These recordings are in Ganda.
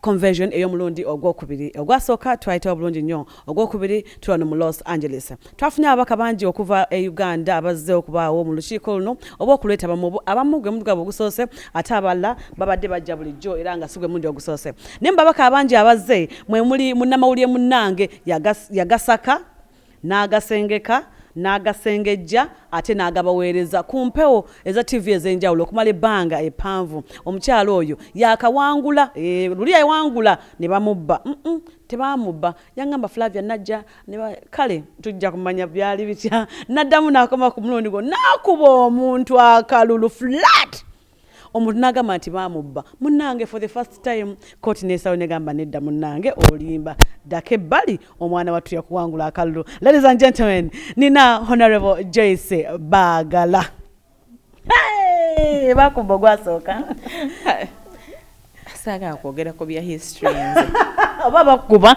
conversion ey'omulundi ogwokubiri ogwasooka twayitawo bulungi nnyo ogwokubiri tuli wano mu los angeles twafunye ababaka bangi okuva e uganda abazze okubaawo mu lukiiko luno oba okulwetaba mubu abamu gwe mudu gwabwe ogusoose ate abalala babadde bajja bulijjo era nga si gwe mundi ogusoose naye mu babaka abangi abazze mwe muli munnamawulire munnange yagasaka n'agasengeka, n'agasengejja ate n'agabaweereza ku mpewo eza ttivi ez'enjawulo okumala ebbanga eppanvu. Omukyala oyo yaakawangula, eeh, luli yawangula ne bamubba. Mm-mm, tebaamubba. Yaŋŋamba, Flavia, nnajja ne ba, kale, tujja kumanya byali bitya. Nnaddamu n'akomawo ku mulundi guno, n'akuba omuntu akalulu flat! omuntu nagamba nti bamubba munange for the first time koti nesawo negamba nedda munange olimba daka ebbali omwana wattu yakuwangula akalulu ladies and gentlemen nina honorable joyce bagala hey! bakumba ogwasooka saagala kwogera ku bya history nze oba bakuba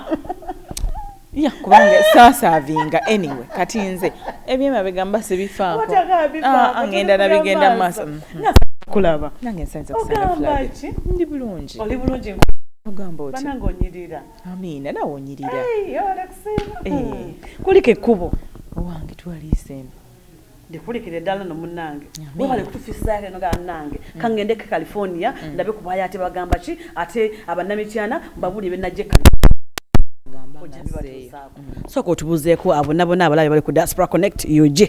ya kubanga sasaavinga anyway kati nze ebyemabega mba sibifaako ah, ah, ngenda nabigenda mu maaso mm-hmm. kulaba nange nsanze kusanafulagi ndi bulungi oli bulungi ogamba oti banange onyirira amiina nawe onyirira eh. kuliko ekkubo owange twaliisembe ndikulikire dala no munange webale kutufisako eno ga nange mm. kangende ke California mm. ndabe kubaya ate bagamba ki ate abanamityana mbabuli benaje kali mm. soko tubuzeeko abo nabona abalabe bali ku diaspora connect ug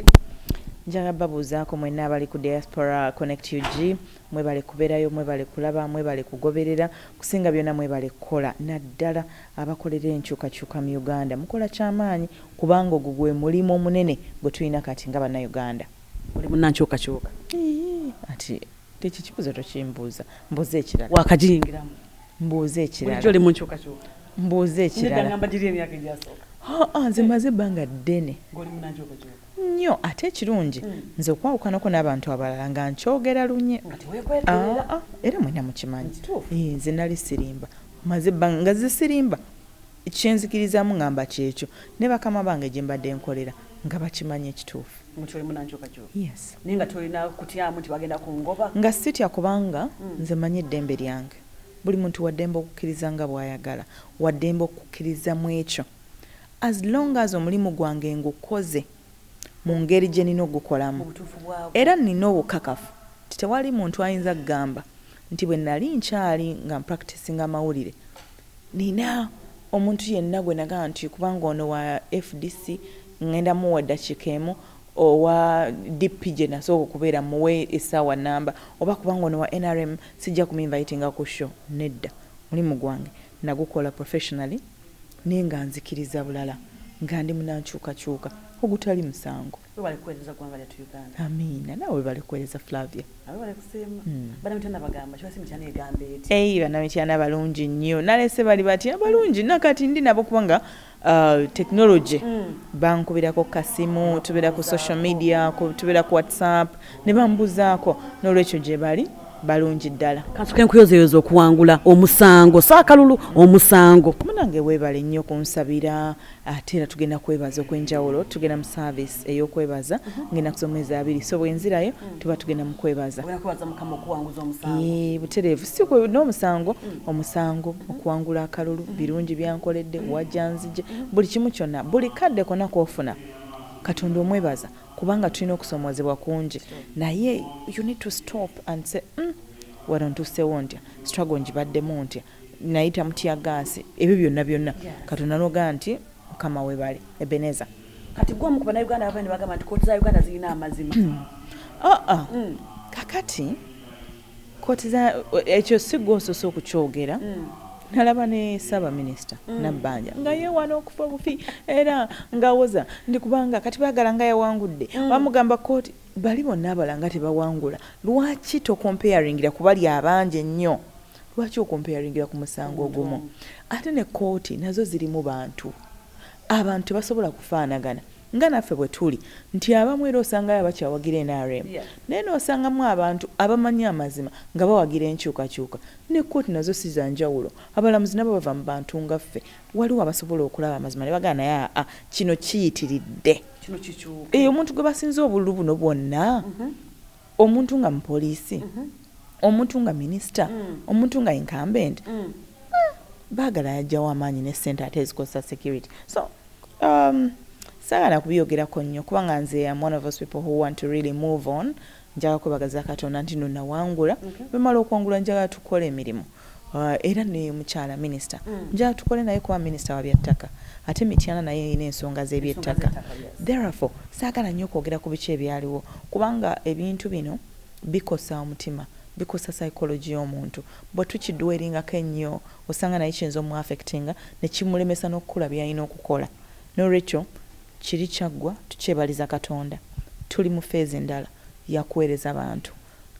njagala babuuzaako mwenna abali ku diaspora connect ug mwebale kubeerayo mwebale kulaba mwebale kugoberera kusinga byonna mwebale kukola naddala Abakolera enkyukakyuka mu Uganda mukola kyamaanyi kubanga ogwo gwe mulimu omunene gwe tulina kati nga Bannayuganda. Oli munnankyukakyuka? Iyii kati ekyo ekibuuzo tokimbuuza. Mbuuza ekirala. Waakagiyingiramu? Mbuuza ekirala. Bulijjo oli mu nkyukakyuka? Mbuuza ekirala. Nedda ngamba giri emyaka egyasooka. Haa nze mmaze ebbanga ddene. Ng'oli munnankyukakyuka? Nnyo ate ekirungi nze okwawukanako n'abantu abalala nga nkyogera lunye. Nga teweekwekerera. Aa era mwenna mukimanyi. Kituufu. Ii nze nali sirimba. Mmaze ebbanga nga nze sirimba, kye nzikirizaamu ngamba ky'ekyo ne bakama bange gye mbadde nkolera nga bakimanyi ekituufu. Mu kyo olimu na nkyukakyuka? Yes. Naye nga tolina kutyamu nti bagenda kungoba? Nga sitya kubanga nze mmanyi eddembe lyange. Buli muntu wa ddembe okukkiriza nga bw'ayagala, wa ddembe okukkiriza mu ekyo as long as omulimu gwange ngukoze mu ngeri gye nina ogukolamu era nina obukakafu nti tewali muntu ayinza kugamba nti bwe nnali nkyali nga mpractisinga amawulire, nnina omuntu yenna gwe nagamba nti kubanga ono wa fdc ngenda muwa eddakiika emu, owa DP gye nasooka okubeera mmuwe essaawa nnamba oba kubanga ono wa nrm sijja kuminvayitinga ku show, nedda, omulimu gwange nagukola professionally naye nga nzikiriza bulala nga ndi munankyukakyuka ogutali musango. webale kuweereza ggwanga lyattu uganda amiina nawe webale kuweereza flavia webale kusiima hmm. banamityana bagamba kiba si mityana egamba eti ei banamityana balungi nnyo nalese bali batya balungi nakati ndi nabo kubanga uh, technology hmm. bankubirako ku kasimu tubeera ku social media tubeera ku whatsapp ne bambuzaako n'olwekyo gye bali balungi ddala kansuke nkuyozeyoza okuwangula omusango saakalulu omusango munange webale nnyo kunsabira ate era tugenda kwebaza okwenjawulo tugenda mu service eyokwebaza ngenda kuza omwezi abiri so bwenzirayo mm. tuba tugenda mu kwebaza butereevu si n'omusango mm. omusango mm-hmm. okuwangula akalulu mm-hmm. birungi byankoledde mm-hmm. wajanzije buli kimu kyonna buli kadde kona kofuna katonda omwebaza kubanga tulina okusomozebwa kungi naye you need to stop and say mm, wano ntusewo ntya struggle ngibaddemu ntya nayita mutiyagaasi ebyo byonna byonna katonda nogaa nti mukama webale ebeneza kati gwe omukuba na uganda ababene bagamba nti kooti za uganda zirina amazima hmm. oh, oh. Hmm. kakati kooti za ekyo sigwa osose okukyogera hmm. nalaba ne saba minisita nabbanja nga yewana okufa obufi era ngawoza ndi kubanga kati bagala nga yawangudde bamugamba kooti bali bonna abalanga tebawangula lwaki tokomparingira kubali abangi ennyo lwaki okompeyaringira ku musango ogumu ate ne kooti nazo zirimu bantu abantu tebasobola kufaanagana nga naffe bwe tuli nti abamu era osangayo abakyawagira nrm naye n'osangamu abantu abamanyi amazima nga bawagira enkyukakyuka ne kooti nazo si za njawulo abalamuzi nabo bava mu bantu nga ffe waliwo abasobola okulaba amazima ne bagana naye aa kino kiyitiridde eyo omuntu gwe basinza obululu buno bwonna mm-hmm. Omuntu nga mupoliisi, omuntu nga minisita, omuntu nga incumbent, baagala yajjawo amaanyi ne ssente ate ezikozesa security. So, um, saagala kubiyogerako nnyo kubanga nze am one of those people who want to really move on. Njagala kwebagaza Katonda nti no nawangula. Bwe mmala okwangula njagala tukola emirimu. Uh, era ne mukyala minisita mm. njala tukole naye kuba minisita wa byattaka ate mityana naye erina ensonga z'ebyettaka therefore saagala nnyo okwogera ku biki ebyaliwo kubanga ebintu bino bikosa omutima bikosa psychology y'omuntu bwe tukidweringako ennyo osanga naye kiyinza omuaffectinga ne kimulemesa n'okukula byalina okukola n'olwekyo kiri kyaggwa tukyebaliza katonda tuli mu feezi endala yakuweereza bantu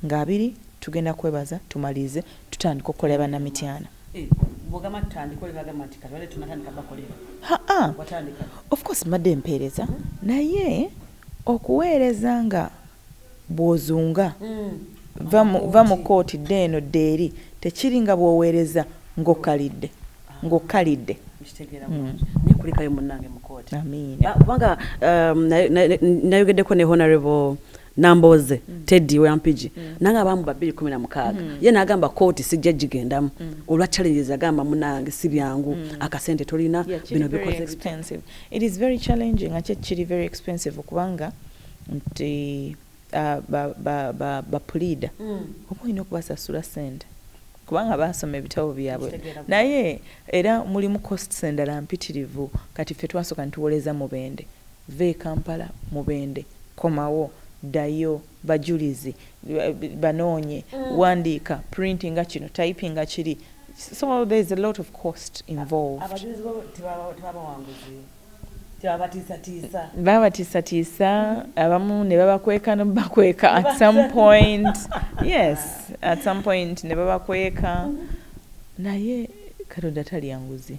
nga abiri tugenda kwebaza tumaliize tutandika okukolera banna mityana. Haa of course mbadde mpeereza naye okuweereza nga bwozunga vva mu kooti dda eno dda eri tekiri nga bwoweereza nga okalidde nga okalidde. Amiina. Nayogeddeko ne Honorable Nambooze, Teddy wa Mpigi nange abaamu babiri kkumi na mukaaga ye n'agamba kkooti sijja gigendamu olwa challenges agamba munnange si byangu akasente tolina Yeah, kiri bino very bikoze expensive. It is very challenging ate kiri very expensive kubanga nti ah, ba- ba- ba- bapuliida oba olina okubasasula ssente kubanga baasoma ebitabo byabwe Nkitegeera bulungi. naye era mulimu costs endala mpitirivu kati ffe twasooka nituwoleza mubende Vva e Kampala Mubende, komawo, ddayo, bajulizi, banoonye, wandiika, printinga kino, typinga kiri, so there is a lot of cost involved. Abajulizi bo tebaba bawanguzi? Tebabatiisatiisa? Babatiisatiisa, abamu ne babakweka n'obakweka at some point, yes, at some point ne babakweka, naye Katonda talya nguzi.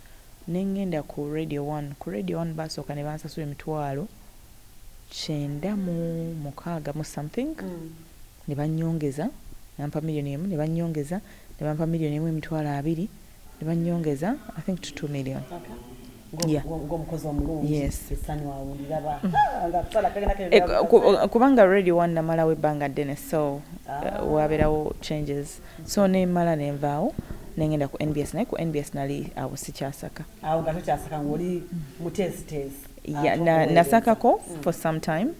ne ngenda ku Radio One. Ku Radio One baasooka ne bansasula emitwalo kyenda mu mukaaga mu something, ne bannyongeza ne bampa million emu, ne bannyongeza ne bampa million emu emitwalo abiri, ne bannyongeza I think to two million. Yeah. ng'omukozi omulungi Yes. essanyu awo ndilaba Ha, nga kusala kagenda kagenda Eh, ku- ku- kubanga radio one namalawo ebbanga ddene so eh, wabeerawo changes so nemala nenvaawo nengenda ku nbs naye ku nbs nali awo sikyasaka awo nga tokyasaka ngaoli muteesiteesi ya, na, nasakako mm. for some time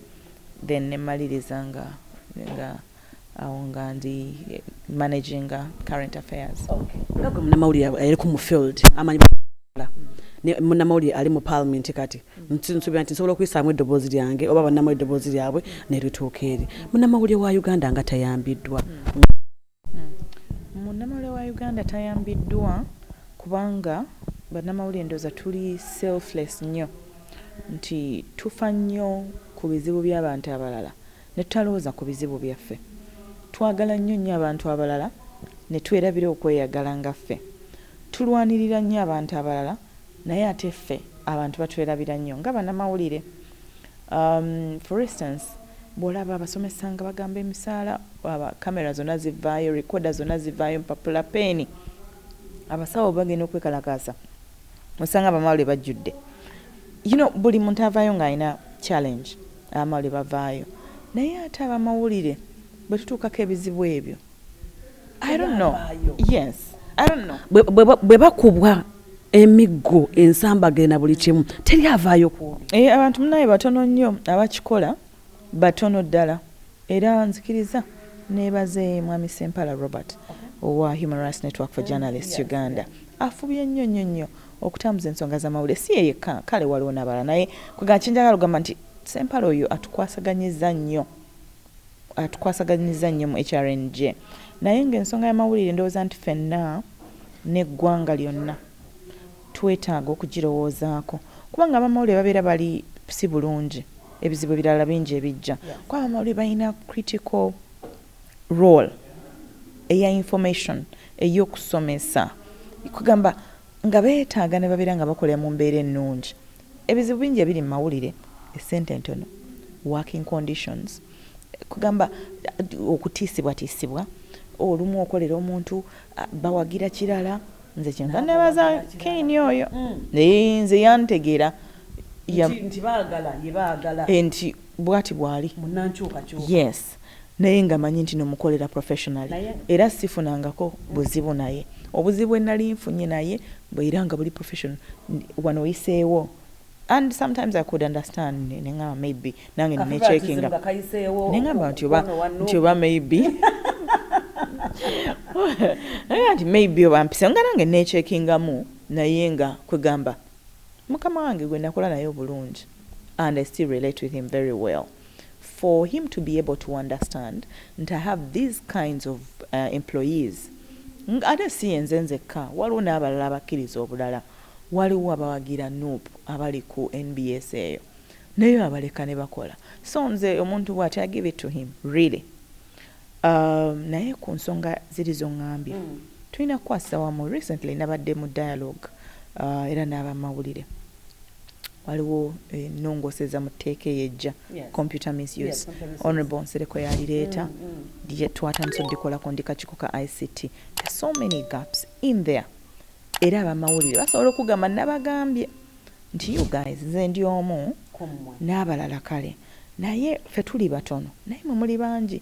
then nemaliriza nga nga awo nga ndi eh, managing uh, current affairs okay. munamawulire ali ku mu field amanyi munamawulire ali mu parliament kati nsuubira nti nsobola okuyisaamu eddoboozi lyange oba bannamu eddoboozi lyabwe nerituuka eri munnamawulire wa uganda nga tayambiddwa munnamawulire wa uganda tayambiddwa kubanga bannamawulire ndooza tuli selfless nnyo nti tufa nnyo ku bizibu by'abantu abalala ne tutalowooza ku bizibu byaffe twagala nnyo nnyo abantu abalala ne twerabira okweyagala nga ffe tulwanirira nnyo abantu abalala Naye ate ffe abantu batwelabira nnyo nga banamawulire umm for instance bwolaba abasomesa nga bagamba emisaala aba camera zona zivaayo recorder zona zivaayo empapula pen abasawo bwebagenda okwekalakaasa osanga abamawulire bajjudde you know buli muntu avaayo nga alina challenge abamawulire bavaayo naye ate abamawulire bwetutuukako ebizibu ebyo I don't know. Yes. I don't know. Bwe bakubwa emiggo ensambaga na buli kimu teri avaayo ku eh, abantu munaye batono nnyo abakikola batono ddala era nzikiriza nebaze mwami sempala robert owa human rights network for journalists uganda afubye nnyo nnyo nnyo okutambuza ensonga z'amawulire si yeyekka kale waliwo nabala naye kwegakyenjagala ogamba nti sempala oyo atukwasaganyiza nnyo atukwasaganyizza nnyo mu HRNJ naye ng'ensonga y'amawulire ndowooza nti ffenna n'eggwanga lyonna twetaaga okugirowoozaako kubanga abamawulire babeera bali si bulungi ebizibu ebirala bingi ebijja kuba abamawulire balina critical role eya information ey'okusomesa kugamba nga beetaaga ne babeera nga bakolera mu mbeera ennungi Ebizibu bingi ebiri mu mawulire, essente entono, working conditions, kugamba okutiisibwatiisibwa, olumu okolera omuntu bawagira kirala, nze kyenva nebaza Kayne oyo eeh nze yantegera nti bwati bwali yes. naye nga manyi ntino mukolera professionally era sifunangako buzibu naye obuzibu bwenali nfunye naye mbu era nga buli professional wano oyiseewo and sometimes i could understand nengamba maybe nange ninecheckinga nengamba nti oba nti oba maybe nti maybe oba mpise nga nange necheckingamu naye nga kwegamba mukama wange gwenakola naye obulungi and i still relate with him very well for him to be able to understand nti I have these kinds of uh, employees nga ate si yenze nzekka waliwo n'abalala abakkiriza obulala waliwo abawagira nup abali ku nbs eyo naye abaleka ne bakola so nze omuntu bwati i give it to him really um, naye ku nsonga ziri zongambye mm. tulina kukwasisa wamu recently nabadde mu dialogue uh, era n'abamawulire waliwo enongooseza mu tteeka eyo ejja computer misuse honorable nsereko yalireeta mm, mm. twatandisa odikolako ndi kakiiko ka ict so many gaps in there era abamawulire basobola okugamba nabagambye nti you guys nze ndi omu n'abalala kale naye fe tuli batono naye mwe muli bangi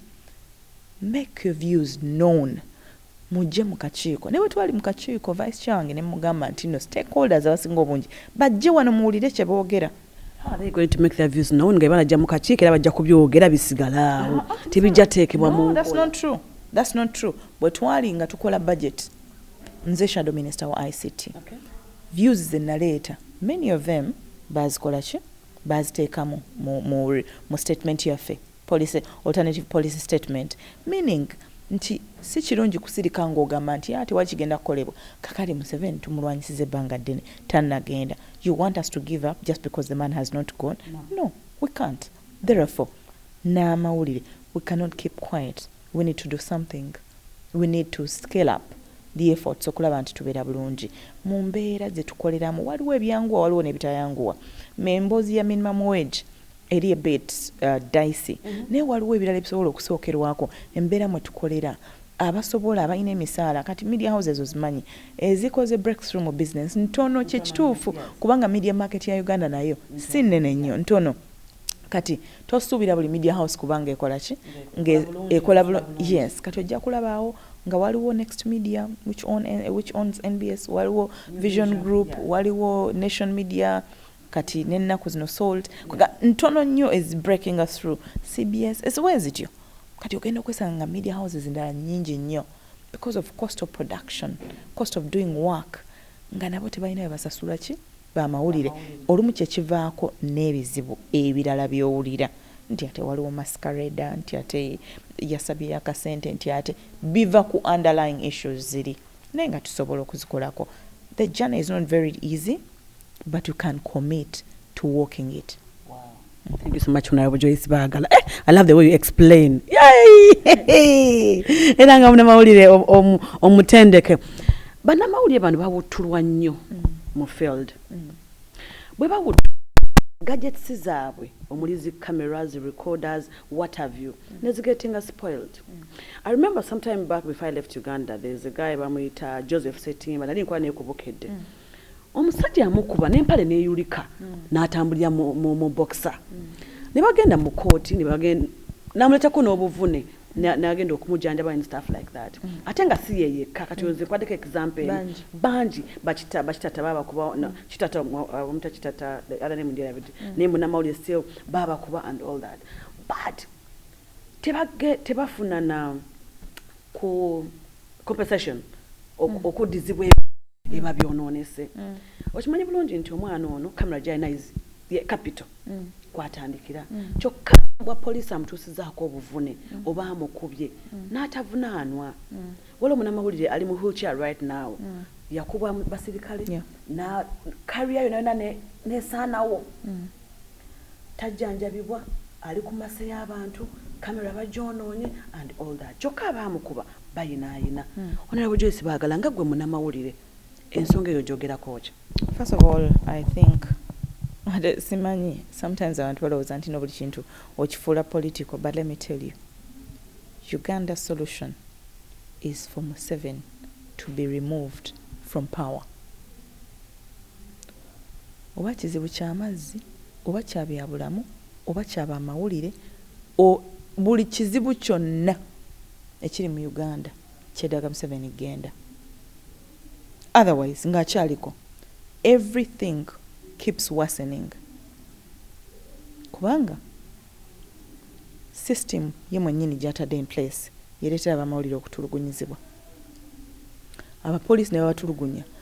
make your views known Mujje mu kakiiko. Ne bwe twali mu kakiiko, Vice Chair wange ne mmugamba nti nno stakeholders abasinga obungi bajje wano muwulire kye boogera. How are they going to make their views known nga bwe banajja mu kakiiko era bajja kubyogera bisigale awo, ah, ah, tebijja teekebwa mu nkola. That's not true. That's not true. Bwe twali nga tukola budget, nze shadow minister wa ICT. Okay. Views ze naleeta, many of them baazikola ki? Baaziteeka mu, mu, mu, mu statement yaffe. Policy, alternative policy statement, meaning nti sikirungi kusirika nga ogamba nti yaa tewali kigenda kukolebwa kakali museveni tumulwanyisiza ebbanga ddene tanagenda you want us to give up just because the man has not gone no we can't therefore n'amawulire we cannot keep quiet we need to do something we need to scale up the efforts okulaba nti tubeera bulungi mu mbeera zetukoleramu waliwo ebyanguwa waliwo nebitayanguwa me emboozi ya minimum wage eri ebit uh, dicey mm -hmm. naye waliwo ebirala ebisobola okusookerwako embeera mwe tukolera abasobola abalina emisaala kati media houses ozimanyi ezikoze breakthrough mu business ntono kyekituufu kubanga media market ya uganda nayo si nene nnyo ntono kati tosuubira buli media house kubanga ekola ki ngaekola bulo yes kati ojja kulabaawo nga waliwo next media which, on, eh, which owns nbs waliwo vision group waliwo nation media yeah. kati nennaku zino salt ntono nnyo is breaking us through cbs esiwa ezityo kati ogenda okwesanga nga media houses endala nyingi nnyo because of cost of production cost of doing work nga nabo tebalina bebasasula ki bamawulire olumu kyekivaako n'ebizibu ebirala byowulira nti ate waliwo mascareda nti ate yasabye yakasente nti ate biva ku underlying issues ziri naye nga tusobola okuzikolako the journey is not very easy but you can commit to walking it Thank you so much Honorable Joyce Bagala. Eh, I love the way you explain. Yay! Era nga munamawulire omutendeke. Banamawulire bano bawuttulwa nnyo mm. mu field. Mm. Bwe bawuttulwa gadgets zaabwe omuli zi cameras recorders what have you mm. nezigetinga spoiled mm. i remember sometime back before i left uganda there's a guy bamuyita joseph setimba nali nkuba naye kubukedde mm. omusajja yamukuba n'empale n'eyulika n'atambulira mu bokisa ne bagenda mu kooti n'amuleetako n'obuvune nagenda okumujanjaba and stuff like that mm. ate nga si ye yekka kati nze kwaddeko example eno bangi bakita bakitata babakuba mm. kitata omuta kitata ala ne mundirabidi mm. naye munamawulire still babakuba and all that but tebafuna na ku compensation mm. okuddizibwa eba byononese mm. okimanyi bulungi nti omwana ono camera gyalina ye capital mm. kwatandikira kyokka bwa poliisi amutuusizaako obuvune oba amukubye n'atavunaanwa waliwo munamawulire ali mu wheelchair right now yakubwa basirikale na kariya yona yona nesaanawo tajjanjabibwa ali ku masse y'abantu camera bagyonoonye and all that kyokka abaamukuba bayinaayina hmm. Honorable Joyce Baagala nga gwe munamawulire ensonga eyo gyogerako ki? First of all I think simanyi sometimes abantu balowooza nti nobuli kintu okifuula political but let me tell you Uganda solution is for Museven to be removed from power. oba kizibu kya mazzi, oba kya bya bulamu, oba kya ba mawulire, o, buli kizibu kyonna ekiri mu Uganda kyetaaga Museveni genda. Otherwise nga akyaliko every thing keeps worsening kubanga system ye mwenyini gyatadde in place yeretera abamawulire okutulugunyizibwa abapoliisi nebabatulugunya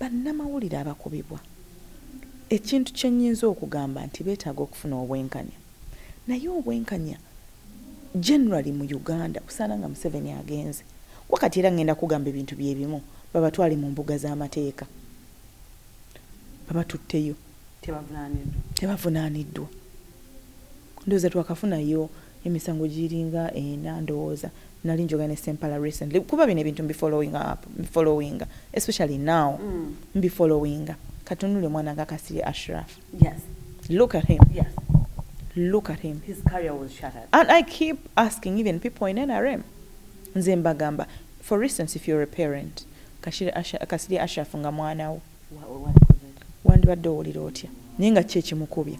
Bannamawulire abakubibwa, ekintu kye nnyinza okugamba nti beetaaga okufuna obwenkanya naye obwenkanya generally mu Uganda busaana nga Museveni agenze kuba kati era ngenda kugamba ebintu bye bimu babatwale mu mbuga z'amateeka babatutteyo tebavunaaniddwa. Ndowooza twakafunayo. Emisango giringa ena ndowooza. Nali njogera ne Ssempala recently kuba bino ebintu mbi followinga up, followinga especially now mbi followinga. Katunulire omwana nga Kasirye Ashraf. Yes. Look at him. Yes. Look at him. His career was shattered. And I keep asking even people in NRM. Nze mbagamba for instance if you're a parent Kasirye Ashraf nga mwana wo. wandibadde owulira otya naye nga ki ekimukubye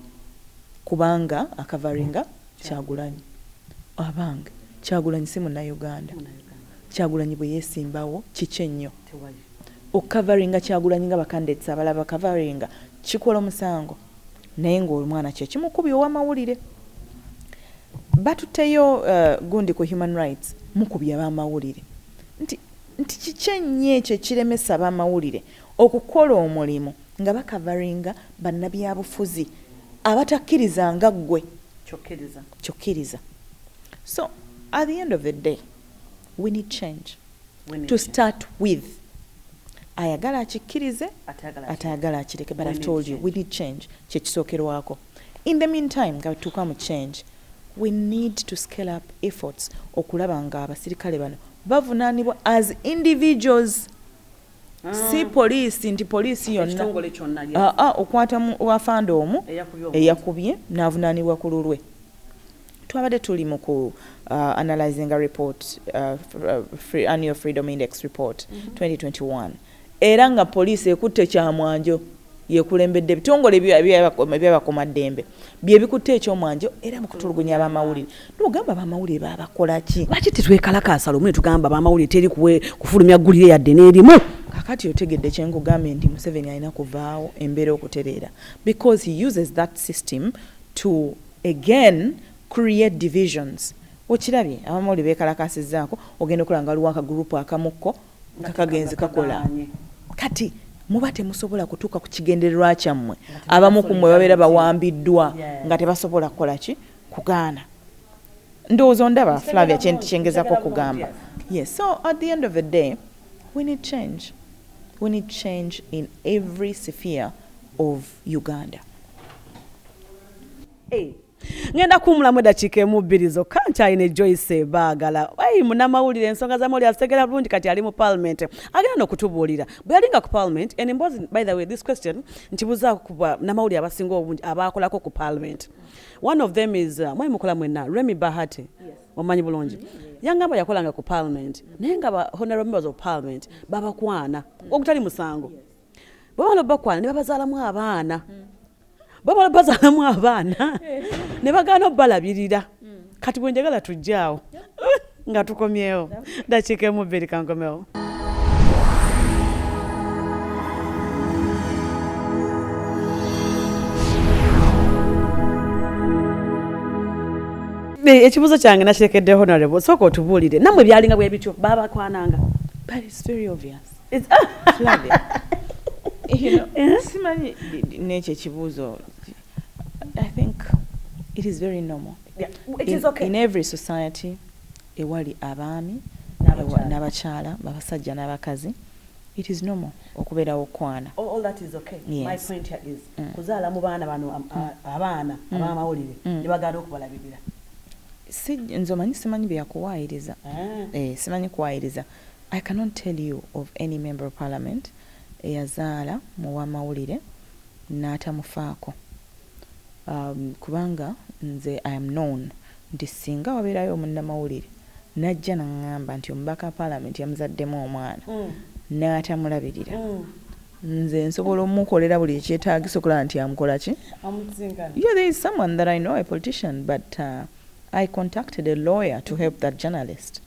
kubanga akavaringa kyagulanyi abange kyagulanyi si munauganda kyagulanyi bwe yesimbawo kiki ennyo okukavaringa kyagulanyi nga bakandidates abalala bakavaringa kikola omusango naye ngaomwana kyekimukubi owamawulire batuteyo uh, gundi ku human rights mukubya bamawulire nti nti kiki ennyo ekyo ekiremesa abamawulire okukola omulimu nga bakavaringa bannabyabufuzi abatakkiriza nga ggwe ky'okkiriza so at the end of the day we need change to start with ayagala akikkirize atayagala akireke but I've told you we need change kyekisookerwako In the mean time nga bwetutuuka mu change we need to scale up efforts okulaba nga abasirikale bano bavunanibwa as individuals mm. si poliisi nti poliisi yonna ah, ah, okwata wafande omu eyakubye navunanibwa ku lulwe twabadde tuli mu ku uh, analyzing a report uh, uh, free, annual freedom index report mm -hmm. 2021 era nga poliisi ekutte Kyamwanjo yekulembedde ebitongole ebyabakumaddembe byebikutte ekyomwanjo era mukutulugunya abamawulire nogamba abamawulire babakolaki lwaki tetwekalakaasa lumu netugamba abamawulire teri kufulumya ggulire yadde nerimu kakati otegedde kyenkugambye nti museveni alina kuvaawo embeera okutereera because he uses that system to again create divisions okirabye abamawulire bekalakasizzaako ogenda okulaba nga waliwo akagurupu akamukko nga kagenze kakola kati muba temusobola kutuuka ku kigendererwa kyammwe abamu ku mmwe babeera bawambiddwa nga tebasobola kukola ki kugaana ndowooza ondaba flavia kyengezako okugamba yes so at the end of the day we need change we need change in every sphere of uganda hey. Eh, ngenda kuwumulamu eddakiika emu bbiri zokka nkyalina ejoyce ebaagala ai munamawulire ensonga za mawulire azitegera bulungi kati ali mu palamenti agenda nokutubuulira bwe yalinga ku palamenti en emboozi by the way this question nkibuzaako kuba namawulire abasinga obungi abaakolako ku palamenti one of them is uh, mwai mukola mwenna remy bahati omanyi bulungi yangamba yakolanga ku palamenti naye nga ba honorable members of parliament babakwana ogutali musango bwebamala obubakwana ne babazaalamu abaana mm. babola bazalamu abaana ne bagaana obalabirira hmm. kati bwenjagala tujjaawo nga tukomyewo dakiika emu bbiri kankomewo ekibuzo kyange nakirekedde honorable sooka otubuulire namwe byalinga bwebityo babakwananga but it's very obvious simanyi nekyo ekibuuzo i think it is very normal yeah. it is okay. in, in every society ewali abaami n'abakyala babasajja n'abakazi it is normal okubeerawo okwana kuzaala mu baana bano um, mm. uh, abaana mm. abamawulire mm. ne bagala okubalabirira nze omanyi simanyi byakuwaayiriza ah. eh, simanyi kuwaayiriza I cannot tell you of any member of parliament eyazaala muwamawulire natamufaako kubanga nze I am known nti singa wabeerayo omunnamawulire najja nangamba nti omubaka wa parliament yamuzaddemu omwana natamulabirira nze nsobola omukolera buli ekyetagisa okulaba nti amukolaki yeah, there is someone that I know a politician but uh, I contacted a lawyer to help that journalist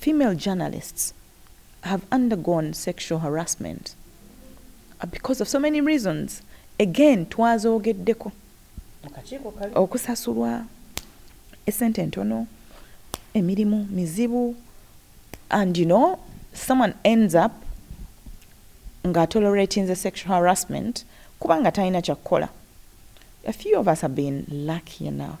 female journalists have undergone sexual harassment because of so many reasons again twazogeddeko okusasulwa esente entono emirimu mizibu and you know someone ends up nga toleratinze sexual harassment kubanga talina kyakukola a few of us have been lucky enough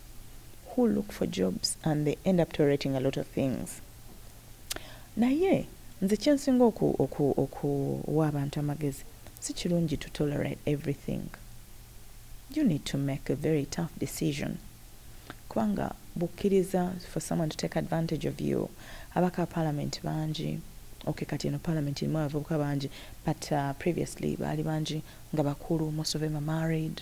who look for jobs and they end up tolerating a lot of things naye nze kyensinga oku oku okuwa abantu amagezi sikirungi to tolerate everything you need to make a very tough decision kubanga bukkiriza for someone to take advantage of you abaka parliament bangi okay kati eno parliament erimu abavubuka bangi but uh, previously baali bangi nga bakulu most of them are married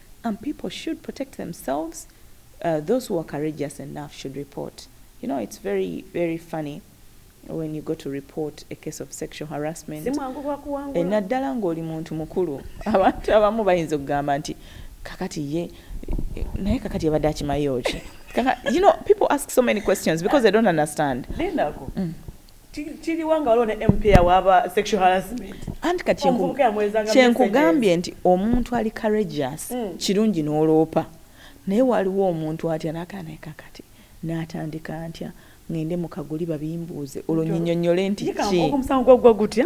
and people should protect themselves uh, those who are courageous enough should report you know it's very very funny when you go to report a case of sexual harassment eh, naddala ng'oli muntu mukulu abantu abamu bayinza okugamba nti kakati ye naye kakati yabadde akimayo ki you know people ask so many questions because they don't understand mm. kiriwa nga waliwo ne mp awaaba sexual harassment anti kati kyenkugambye nti omuntu ali courageous mm. kirungi n'oloopa naye waliwo omuntu atya nakaneka kati natandika ntya ngende mukaguli babimbuuze olwo nyinyonyole nti ki omusango gwagwa gutya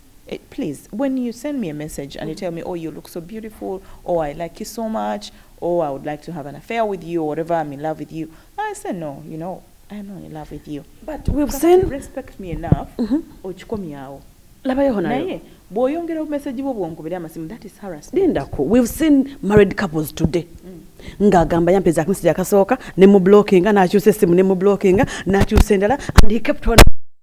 Eh, please when you send me a message and you tell me oh you look so beautiful or oh, i like you so much or oh, i would like to have an affair with you or whatever i'm in love with you i say no you know i'm not in love with you but we've seen respect me enough mm-hmm. okikomyawo labayo naye bwoyongera obumesagi bwo bwonkubira amasimu that is harassment lindako we've seen married couples today mm. ng'agamba yampeza akameseji akasooka ne mu blockinga n'akyusa essimu ne mu blockinga n'akyusa endala and he kept on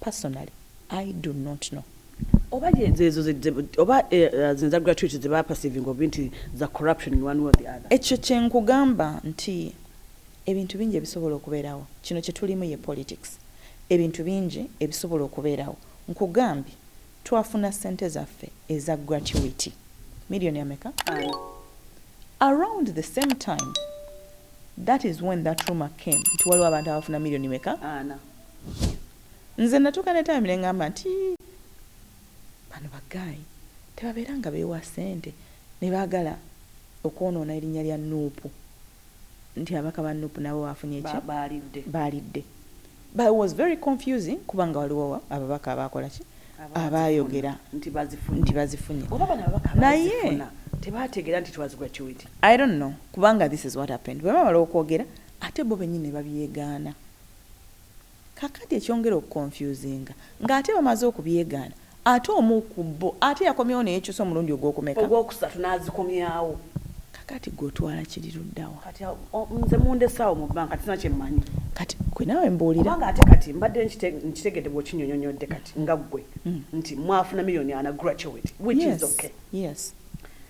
Personally I do not know oba zezo oba zinza gratuity ze bapasivinga obi nti za corruption in one way or the other. Ekyo kye nkugamba nti ebintu bingi ebisobola okubeerawo kino kye tulimu ye politics ebintu bingi ebisobola okubeerawo nkugambye twafuna ssente zaffe eza gratuity million ameka around the same time that is when that rumour came nti waliwo abantu abafuna million meka Nze natuuka netambira engamba nti bano ba guy tebabeera nga bewa sente nebagala okwonoona erinya lya Nup nti ababaka ba Nup nabo bafunye ki balidde but it was very confusing kubanga waliwo ababaka abakola ki abayogera nti bazifunye naye tebategera nti twas gratuity I don't know kubanga this is what happened bwebamala okwogera ate bo benyini nebabyegaana. Kakati ekyongera okukonfyuzinga nga ate bamaze okubyegaana ate omu ku bbo ate yakomyewo neyekyusa omulundi ogwokumeka? Ogwokusatu nazikomyawo. Kakati gwe otwala kiri luddawa? Kati awo nze mundese awo mu banka sirina kyemmanyi. Kati gwe naawe mbuulira. Kubanga ate kati mbadde nkitegedde bwokinyonyonyodde kati nga gwe nti mwafuna million ana graduate which is okay. Yes.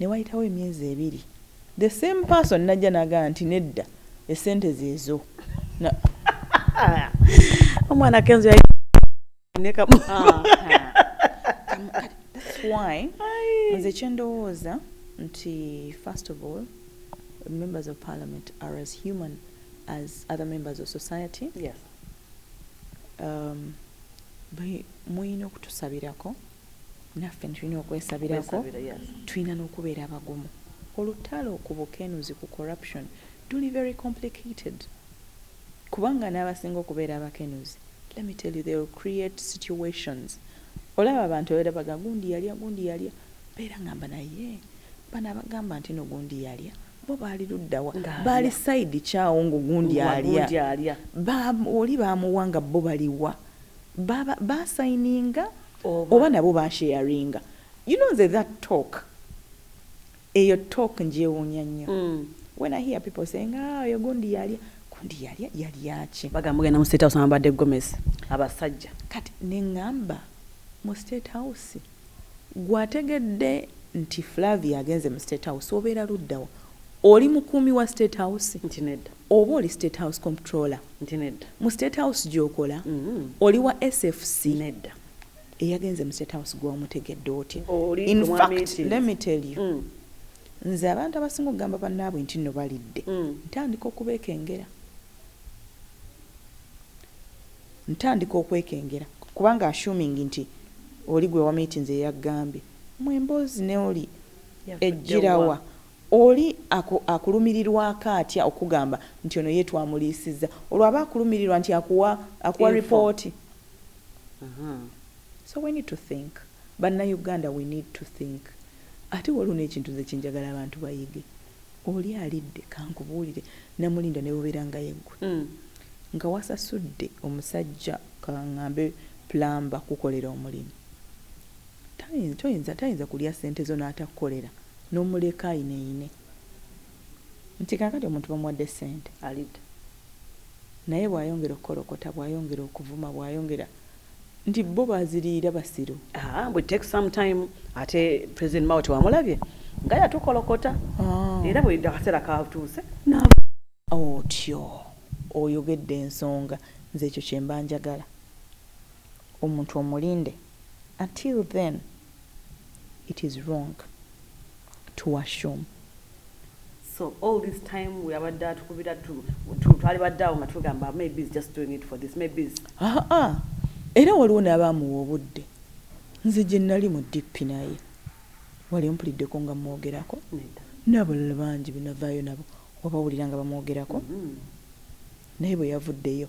newayitawo emyezi ebiri the same person najja naga nti nedda esente zezo omwana kenzo yali nekamu ah, ah. why nze kyendowooza nti first of all members of parliament are as human as other members of society yes. um, muyina okutusabirako naffe tulina okwesabirako tulina nokubeera abagumu olutalo ku bukenuzi ku corruption luli very complicated kubanga n'abasinga okubeera abakenuzi let me tell you they will create situations olaba abantu abeera baga gundi yalya gundi yalya beera ngamba naye bano abagamba nti no gundi yalya bo baali luddawa baali saidi kyawo ngaogundi alya oli baamuwa nga bo baliwa basayininga ba oba nabo ba sharinga you know nze that talk eyo talk njewunya nnyo mm. when i hear people saying ah oyo gundi yalya gundi yalya yalyaki bagamba genda mu state house amabadde gomesi abasajja kati neŋamba mu state house gwategedde nti flavia agenze mu state house obeera luddawa oli mukuumi wa state house nti nedda Oba oli state house comptroller? Nti nedda. Mu state house gyokola? Oli wa SFC? Nedda. Eyagenze mu state house gwe wamutegedde otya? Oli gwe mwa meeting. Infact let me tell you nze abantu abasinga okugamba banaabwe nti nno balidde ntandika okubekengera. Ntandika okwekengera kubanga assuming nti oli gwe wameetinze yeyakugambye. Mwe emboozi ne oli Yavudde wa? ejjirawa? Oli aku, akulumirirwako atya okukugamba nti ono ye twamuliisizza? Olwo aba akulumirirwa nti akuwa, akuwa Info. report. Ahaa. So we need to think. Bannayuganda we need to think. Ate waliwo n'ekintu nze kye njagala abantu bayige. Oli alidde, kankubuulire, Namulinda ne bw'obeera nga ye ggwe. Nga wasasudde omusajja ka ŋŋambe plumber kukukolera omulimu. Tayinza, toyinza, tayinza kulya ssente zo n'atakukolera, n'omuleka ayineyine nti kaakati omuntu bamuwadde ssente alidda. Naye bw'ayongera okukolokota, bw'ayongera okuvuma, bw'ayongera nti bo baziriira basiru. Haa, mbu it takes some time. Ate President Mao tewamulabye nga yatukolokota era buli akaseera katuuse n'avuma. Otyo oyogedde ensonga. Nze ekyo kye mba njagala. Omuntu omulinde. Until then it is wrong to assume. So all this time we abadde atukubira tu twalibadde awo nga tugamba maybe is just doing it for this maybe is ah ah era waliwo n'abaamuwa obudde nze gye nnali mu dp naye wali ompuliddeko nga mmwogerako n'abalala bangi benavaayo nabo wabawulira nga bamwogerako mm-hmm. naye bwe yavuddeyo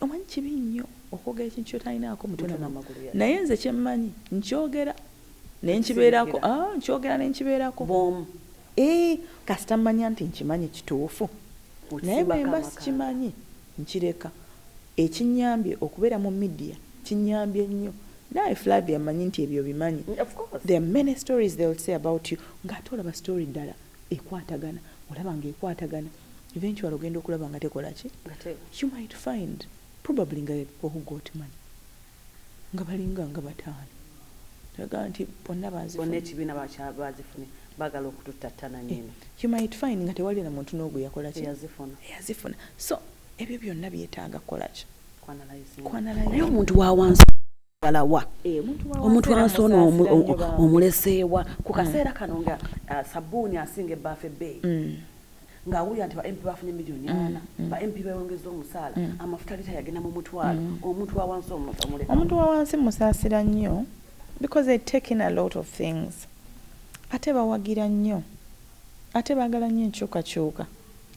Omanyi kibi nnyo okwogera ekintu kyotalinaako mutwe na magulu yadde. Naye nze kyemmanyi nkyogera nenkibeerako ah nkyogera nenkibeerako. Bwomu. Eeh kasita mmanya nti nkimanyi kituufu naye bwemba sikimanyi nkireka. Ekinnyambye okubeera mu media kinnyambye nnyo. Naawe Flavia mmanyi nti ebyo obimanyi. Of course. There are many stories they'll say about you nga ate olaba story ddala ekwatagana olaba nga ekwatagana. eventually ogenda okulaba nga tekola ki you might find probably nga who got money nga balinga nga bataano aga nti bonna bazibonna ekibiina bazifunye bagala okututattana eh, nyini you might find nga tewali na muntu n'ogu yakola ki yazifuna so ebyo byonna byetaaga kukola ki kwanalayo omuntu wawansi galawa eh, omuntu ansona omuleseewa ku kaseera mm. kano nga ah, sabuuni asinga ebbaafu ebbeeyi mm. ng'awulira nti ba mp bafuna emiliyoni mm, ana mm. ba mp bewongeza omusaala mm. amafuta lita yagenda mu mutwalo omuntu wawansi omuleka omuntu wawansi musaasira nnyo because they taken a lot of things ate bawagira nnyo ate baagala nnyo enkyukakyuka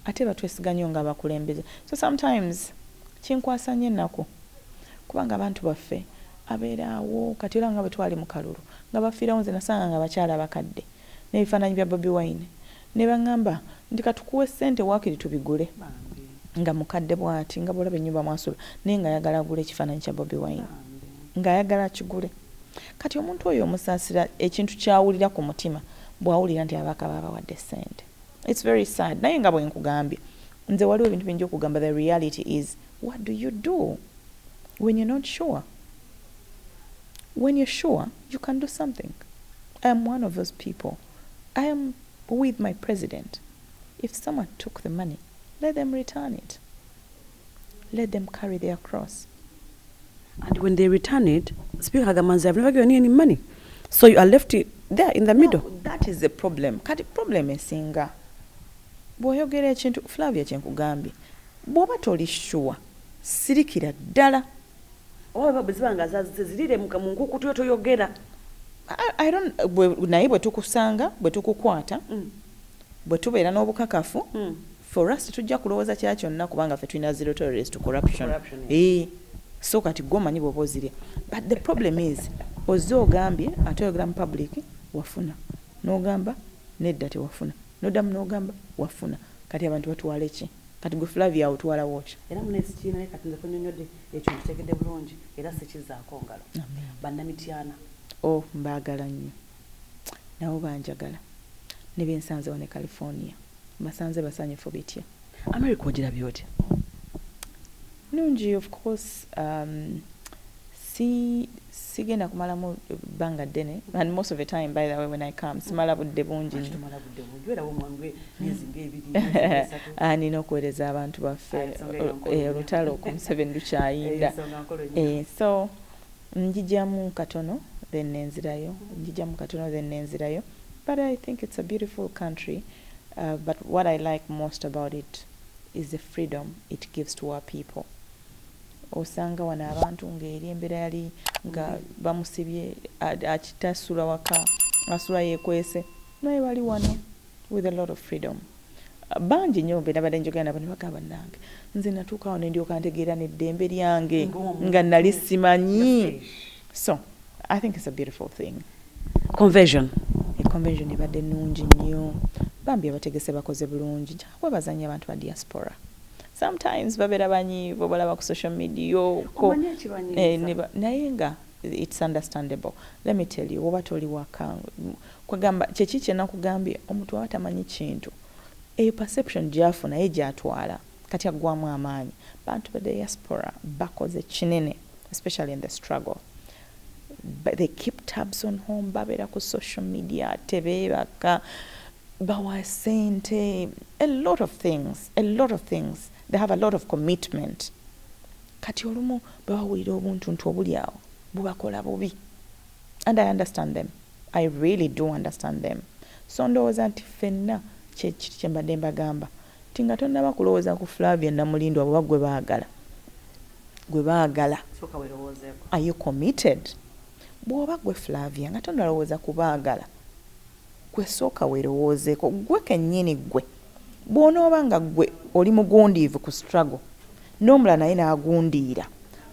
Ate batwesiga nyo nga abakulembeze so sometimes kinkwasa nyo enaku kubanga abantu baffe abera awo kati olaba nga bwetwali mukalulu nga bafirawo nze nasanga nga abakyala bakadde nebifananyi bya bobi wine nebangamba nti katukuwe sente wakiri tubigule nga mukadde bwati nga bwolaba enyumba mwasula naye nga ayagala agule ekifananyi kya bobi wine nga ayagala akigule kati omuntu oyo omusasira ekintu kyawulira kumutima bwawulira nti ababaka babawadde sente. It's very sad naye nga bwenkugambye nze waliwo ebintu bingi okugamba the reality is what do you do when you're not sure when you're sure you can do something i am one of those people i am with my president if someone took the money let them return it Let them carry their cross and when they return it speaker agamba nze have never given you any money so you are left there in the middle no, that is the problem kati problem esinga bwoyogera ekintu flavia kyenkugambye bwoba toli sure sirikira ddala oba bweziba nga zazizirire mu nkukutu yo toyogera naye bwe tukusanga bwe tukukwata mm. bwe tubeera n'obukakafu mm. For us tetujja kulowoza kya kyonna kubanga fe tulina zero tolerance to corruption ee so kati gwe omanyi bwoba ozirya but the problem is ozze ogambye ate oyogera mu public wafuna nogamba nedda tewafuna nodamu nogamba wafuna kati abantu batwale ki kati gwe flavia otwala woki era munesikiina ye kati nze kunyonyode ekyo nkitegedde bulungi era sikizaako ngalo bannamityana o oh, mbaagala nnyo nabo banjagala ne be nsanze wano e California mbasanze basanyufu bitya? America ogirabye otya? Nungi of course um, si sigenda kumalamu bbanga ddene and most of the time by the way when i come mm. simala budde bungi ah, nina okuweereza abantu baffe ah, eh, olutalo ku museveni lukyayinda eh, so Njijamu katono then nenzirayo njijamu katono then nenzirayo but I think it's a beautiful country but what I like most about it is the freedom it gives to our people osanga wano abantu nga eri embera yali nga bamusibye akitasula waka asula yekwese naye bali wano with a lot of freedom bangi nyo benabadde njogera nabo nebagaa banange nze natuuka awo nendyoka ntegeera neddembe lyange nga nali simanyi so i think it's a beautiful thing conversion conversion ebadde nungi nnyo bambi abategese bakoze bulungi njakwebazanya abantu ba diaspora sometimes babera banyi bobalaba ku social media ko eh, naye nga it's understandable let me tell you oba toli waka Kwegamba kyeki kyenakugambye omuntu bwaba tamanyi kintu eyo perception gyafuna ye gyatwala kati aggwamu amaanyi bantu be diaspora bakoze kinene especially in the struggle they keep tabs on home babeera ku social media tebeebaka bawa sente a lot of things a lot of things they have a lot of commitment kati olumu bwebawulira obuntuntu obuli awo bubakola bubi and i understand them I really do understand them so ndowoza nti ffenna kyekiri kyembadde mbagamba nti nga tonaba kulowoza ku Flavia Namulindwa oba gwe bagala gwe bagala Soka welowoozeko. are you committed bwoba gwe Flavia nga tonalowoza ku bagala gwe soka welowoozeko gwe kenyini gwe. Bw'onooba nga ggwe oli mugundiivu ku struggle n'omulala naye n'agundiira,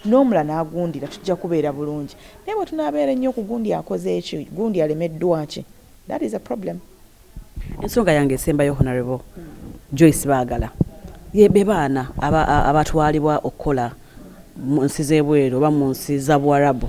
n'omulala n'agundiira tujja kubeera bulungi naye bwe tunaabeera ennyo okugundia akoze ki, gundi alemeddwa ki? That is a problem. Ensonga yange esembayo Honourable Joyce Baagala ye be baana aba, a- abatwalibwa okukola mu nsi z'ebweru oba mu nsi za Buwarabu.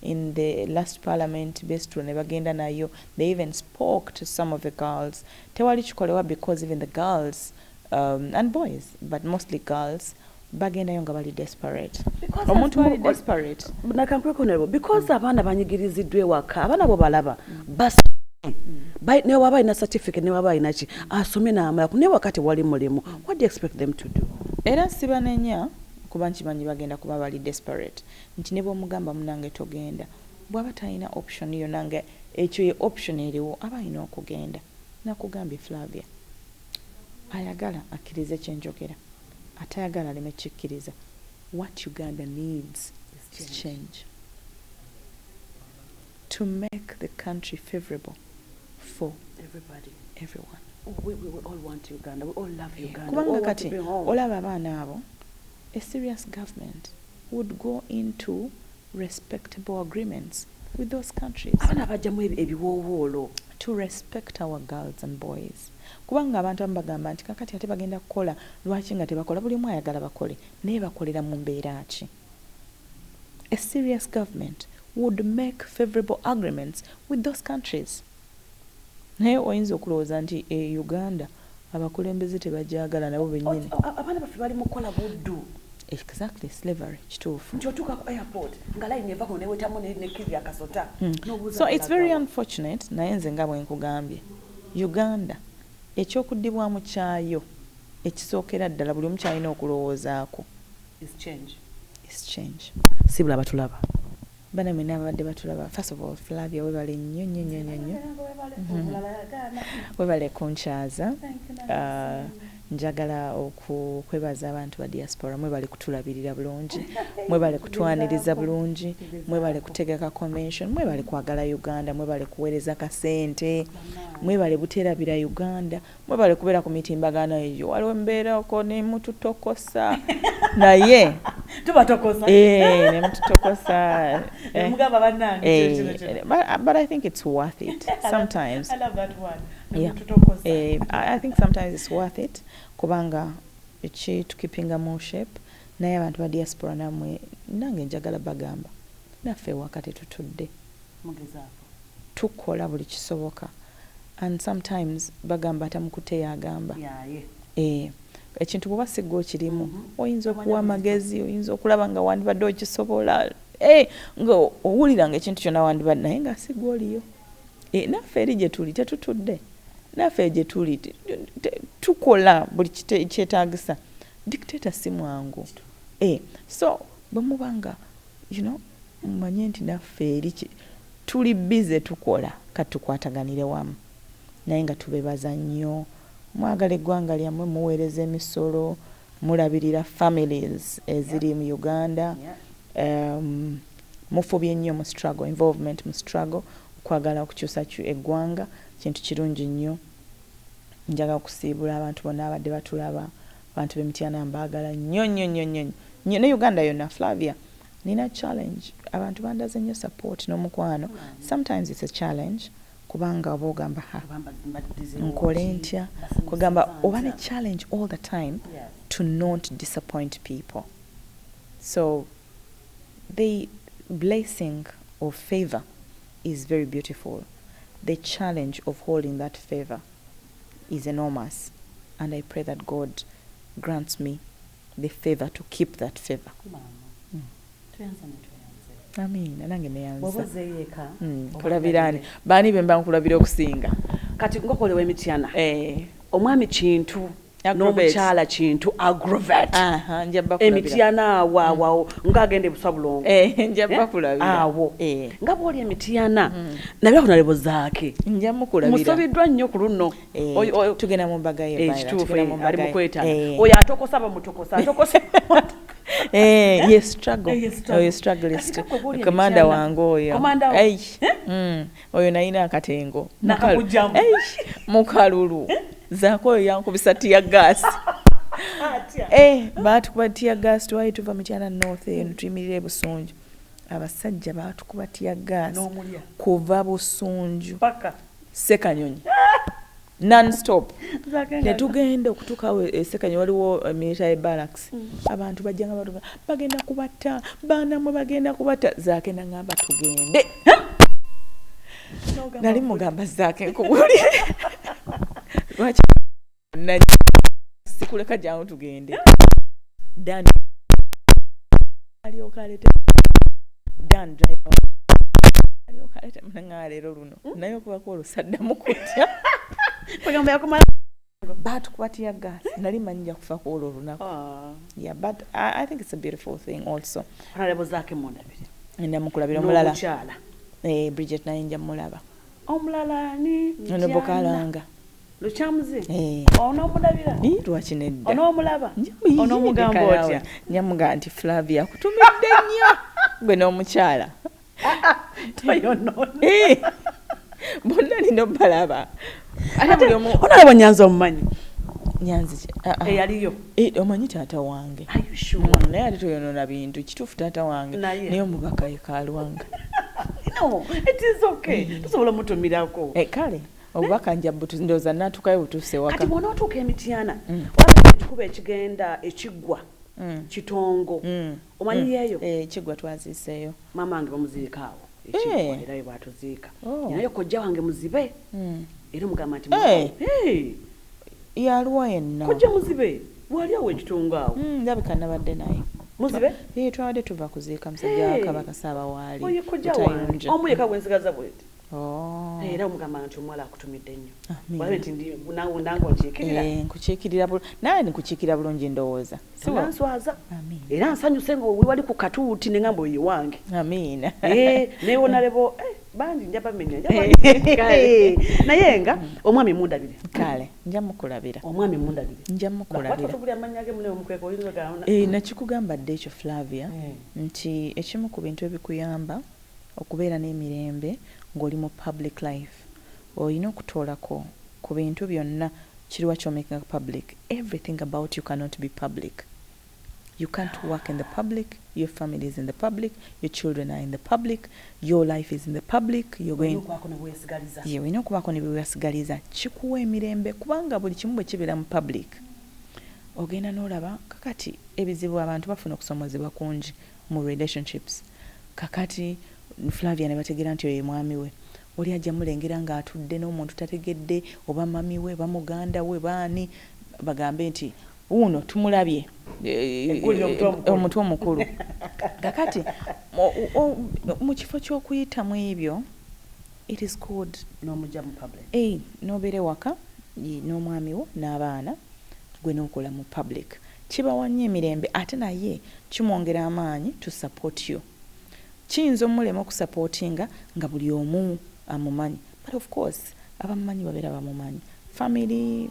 in the last parliament besitula nebagenda nayo they even spoke to some of the girls tewali kikolewa because even the girls um, and boys but mostly girls bagendayo nga bali desperate omuntu ali desperate nakankwekunerebo because mm. abaana banyigiriziddwa ewaka abaana bo balaba mm. bas mm. newaba alina certificate newaba alina ki asome namala ku newakati wali mulimu what do you expect them to do era sibanenya kuba nkimanyi bagenda kuba bali desperate nti nebwomugamba munange togenda bwaba talina option yona nga ekyo ye option eriwo aba alina okugenda nakugambye Flavia ayagala akirize kyenjogera atayagala aleme kikiriza what Uganda needs is change to make the country favorable for everyone kubanga kati olaba abaana abo A serious government would go into respectable agreements with those countries. Abana bajamu ebiwowoolo. To respect our girls and boys kubanga abantu abamu bagamba nti kakati ate bagenda kukola lwaki nga tebakola buli omu ayagala bakole naye bakolera mu mbeera ki? A serious government would make favorable agreements with those countries. Naye oyinza okulowooza nti e Uganda abakulembeze tebagyagala nabo benyini. Ot abaana baffe bali mukukola buddu. Exactly slavery kituufu. Nti otuuka ku airport nga line eva kuno newetamu ne ne kili akasota nobuuza So it's very unfortunate naye nze nga bwenkugambye Uganda ekyokudibwamu kyayo ekisookera ddala buli omu kyalina okulowoozaako is change is change sibula batulaba. Bana mwena ababadde batulaba first of all Flavia webale nnyo nnyo nnyo nnyo nnyo mm-hmm. webale kunkyaza uh, njagala okwebaza abantu ba diaspora mwebale kutulabirira bulungi mwebale kutwaniriza bulungi mwebale kutegeka convention mwebale kwagala uganda mwebale kuweereza kasente mwebale buterabira uganda Mwebale kubera ku mitimbagano eyo. Waliwo embera oko ne mututokosa. Naye tuba tokosa. Eh, ne mututokosa. Eh. Mugaba banange. Eh, but, uh, but I think it's worth it sometimes. I love that one. Yeah. Eh, I think sometimes it's worth it kubanga eki to keeping a more shape. Naye abantu ba diaspora namwe nange njagala bagamba. Naffe wakati tutudde. tukola buli kisoboka and sometimes bagamba atamukute yagamba eeh ekintu bwoba sigwe okirimu oyinza okuwa amagezi oyinza okulaba nga wandibadde okisobola eeh nga owulira nga ekintu kyona wandibadde naye nga sigwe oliyo eeh naffe eri gyetuli tetutudde naffe gyetuli tukola buli kyetagisa dictator simwangu eeh so bwemubanga You know mumanye nti naffe eri tuli busy tukola kati tukwataganire wamu naye nga tubebaza nnyo mwagala eggwanga lyammwe muweereza emisolo mulabirira families eziri mu Uganda um, mufubye nnyo mu struggle involvement mu struggle okwagala okukyusa eggwanga kintu kirungi nnyo njagala okusiibula abantu bonna abadde batulaba Abantu be mityana mbagala nyo nyo nyo nyo nyo ne Uganda yona Flavia nina challenge abantu bandaze nyo support nomukwano sometimes it's a challenge kubanga oba ogamba ha nkole ntya kwegamba oba ne challenge all the time to not disappoint people so the blessing of favor is very beautiful the challenge of holding that favor is enormous and I pray that God grants me the favor to keep that favor. Mm. Amina nange neyanza mm, kulabirani baani bemba nkulabira okusinga kati ngokolewa emityana eh. omwami kintu n'omukyala kintu agrovet emityana awo awawo mm. nga agenda ebuswa bulongo eh, eh, awo eh. nga bwoli emityana mm. nabirako nalebo zaake musobiddwa nnyo ku luno ekituufu ali mukwetana oyo atokosa bamutokosa atokosa Eh, ye struggle oyo oh, struggle commander wange oyo oyo nayina akatengo mukalulu eh? zaako oyo yankubisa tiya gaasi eh, baatukuba tiya gaasi twali tuva mukyana north eno hmm. tuyimirira ebusunju abasajja baatukuba tiya gaasi kuva busunju sekanyonyi nonstop netugenda okutukawo esekanyi waliwo eh, military barracks mm. abantu bajjanga batu bagenda kubatta baanamwe bagenda kubatta zaake nangamba tugende nali mugamba zaake nkubuli lwaki sikuleka jangu tugende dan alyoka aleta dan driver alyoka aleta mnangaleero luno hmm? naye okubako olwo saddamu kutya kugamba yakumala batukuba tiya gas eh? nali manyi nja kufa ku olwo olunaku ah. yeah but I, i think it's a beautiful thing also honorable zake mundabire enda mukulabira omulala nomukyala eh bridget naye nja mulaba omulala ni ono bokalanga lukyamuzi eh. onomulabira ni lwaki nedda onomulaba onomugamba otya nyamuga nti flavia kutumidde nnyo gwe n'omukyala Eh, bonna nina obalaba onalaba nyanzi omumanyi ah, ah. eyaliyo eh, omanyi taata wange mm, naye ali toyonona bintu kituufu taata wange naye omubaka yekalwanga eh. tusobola mutumirako kale obubaka nja ndooza natukayo butuuse wakati bwona otuuka emityana mm. waba ekikuba ekigenda ekiggwa mm. kitongo omanyiyeeyo mm. eh, kigwa twaziiseeyo maama wange bamuziika awo ekigwa eh. era webwatuziika oh. naye kojja wange muzibe mm. era omugamba nti eh. yaliwa yenna kojja muzibe wali awo ekitungo awo mm, ndabika nabadde naye muzibe twabadde tuva kuziika musajja wakabaka saabawaali omu yeka gwensigaza bweti Oh. era omugamba nti omuwala akutumidde nnyo olabe nti nange onkiikirira eh, nkukiikirira nawe nkukiikirira bulungi ndowooza nanswaza era nsanyuse nga wewali ku katuuti ne ngamba oyo wange amiina eh, naye wonalebo eh, bangi nja bamenya naye nga omwami mundabire kale nja mukulabira omwami mundabire nja mukulabira nakikugamba dde ekyo flavia nti ekimu ku bintu ebikuyamba Okubeera n'emirembe ng'oli mu public life olina okutoolako ku bintu byonna kiriwa kyomakinga public, everything about you cannot be public, you can't work in the public, your family is in the public, your children are in the public, your life is in the public, your going yee olina okubaako nebewesigaliza kikuwa emirembe kubanga buli kimu bwekibeera mu public ogenda n'olaba kakati ebizibu abantu bafuna okusomozebwa kungi. mu relationships kakati Flavia nebategera nti oyo ye mwami we oli aja mulengera nga atudde nomuntu tategedde oba mummy we oba muganda we oba ani bagambe nti wuuno tumulabye omutu omukulu kakati mukifo kyokuyita mwebyo it is called nomuja mu public nobera ewaka nomwami wo nabaana gwe nokola mu public. Kibawa nnyo emirembe ate naye kimwongera amaanyi to support you. Kiyinza omulema okusupportinga nga buli omu amumanyi but of course abamumanyi babeera bamumanyi, family,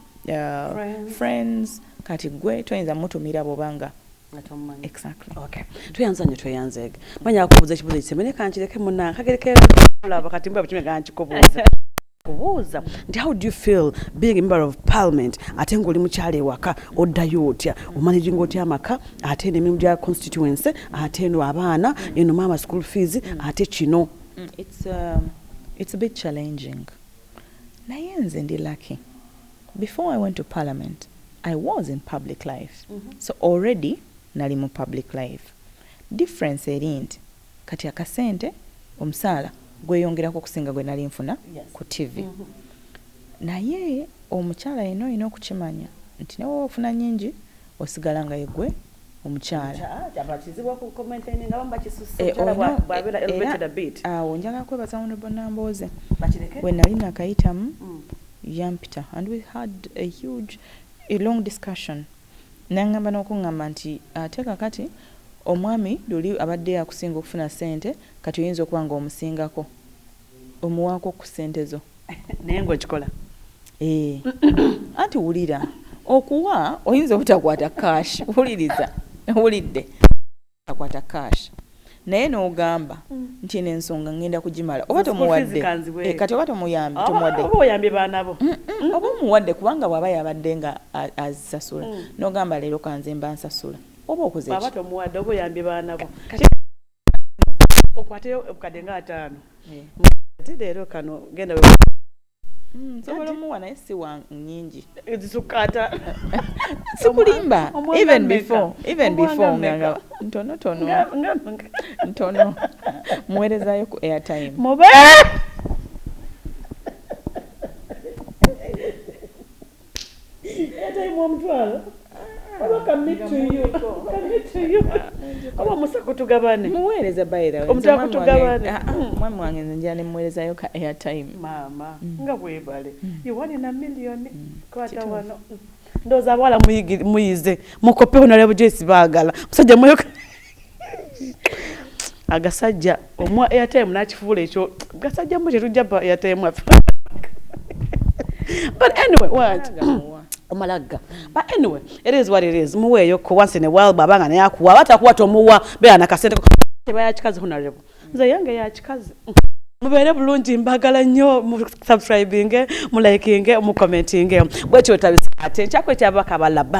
friends kati gwe toyinza mutumira bwoba nga Exactly. Okay. Tweyanza nyo tweyanzeege. Manya akubuza ekibuzo ekiseme ne kankireke munange kagere ke laba kati mba bikime gankikubuza. kubuuza nti how do you feel being a member of parliament ate ngaoli mukyalo ewaka oddayo otya omanaginga otya amaka ate eno emirimu gya constituency ate eno abaana eno maama school fees ate kino mm, it's, uh, it's a bit challenging naye nze ndi lucky before i went to parliament i was in public life mm -hmm. so already nali mu public life difference eri nti Kati akasente omusaala gweyongerako okusinga gwenali nfuna ku TV naye omukyala yena olina okukimanya nti newoba ofuna nyingi osigala nga yegwe omukyala era awo njagala kwebaza Honourable Nambooze wenali nakayitamu yampita and we had a huge a long discussion. Nangamba nokungamba nti ate kakati omwami luli abadde akusinga okufuna sente kati oyinza okuba nga omusingako omuwako ku sente zo naye nga okikola eeh anti wulira okuwa oyinza obutakwata cash wuliriza owulidde. akwata cash naye nogamba mm. nti eno ensonga ngenda kugimala oba tomuwadde eh, kati oba tomuyambye tomuwadde oba oyambye baana bo mm, mm, oba omuwadde kubanga bwaba yabadde nga azisasula nogamba leero kanze mba nsasula oba okoze oba tomuwadde oba oyambye baana bo okwateyo obukadde nga ataano eh. ati leero kano genda Mm, nsobola omuwa naye si wa nyingi zisukata sikulimba even before even before nga ntono tono ntono muwerezayo ku airtime mube omwami wange nze njala nemuweerezayo ka airtime maama mm. nga bwebale mm. iwani na milioni mm. kwata wano ndowooza abawala muyize mukopewo nalya bujoyisi baagala musajja mweyoka agasajja omwa airtime nakifuula ekyo gasajja mu kyetujja pa airtime affe but anyway what omalagga but anyway it is what it is muweeyo ko once in a while bwaba nga naye akuwa aba takuwa tomuwa beera nakasente teba yakikazi honorable nze yange yakikazi mubeere bulungi mbagala nnyo musubscribinge mulayikinge mucommentinge bwekyo wetabisa ate nkyakwekyabakabalaba